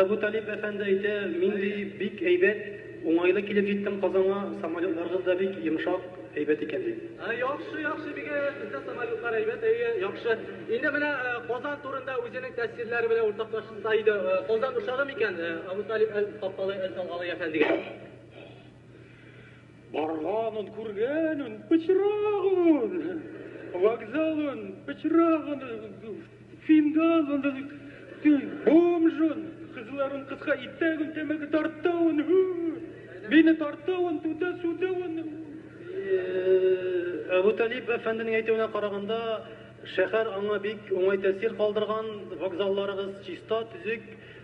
Әбу Талиб әфәнде әйтә, мин, ди, бик әйбәт, уңайлы килеп җиттем Казанга, самолетларыгыз да бик йомшак, әйбәт икән, ди. Яхшы, яхшы, бик әйбәт, бездә самолетлар әйбәт, әйе, яхшы. Инде менә Казан турында үзенең тәэсирләре белән уртаклашса иде. Казан ошады микән Әбу Талиб әл-Капталый әл-Салгалый әфәндегә? Барганын, күргәнен, пычрагын, вокзалын, пычрагын, фингалын, бомжын, кызларын кыска итәген, тәмәке тартуын, бине тартуын, түтә сүтәвен. Әбу Талиб әфәнденең әйтүенә караганда, шәһәр аңа бик уңай тәэсир калдырган, вокзалларыгыз чиста, төзек,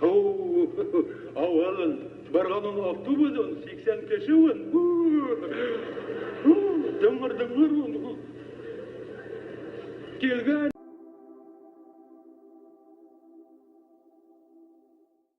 Һу-у-у-у! Авырын! Барган ун автобус ун, сиксән кеше ун! Һу-у-у-у! Һу-у-у-у! Дыңгыр-дыңгыр ун! Һу! Килгән!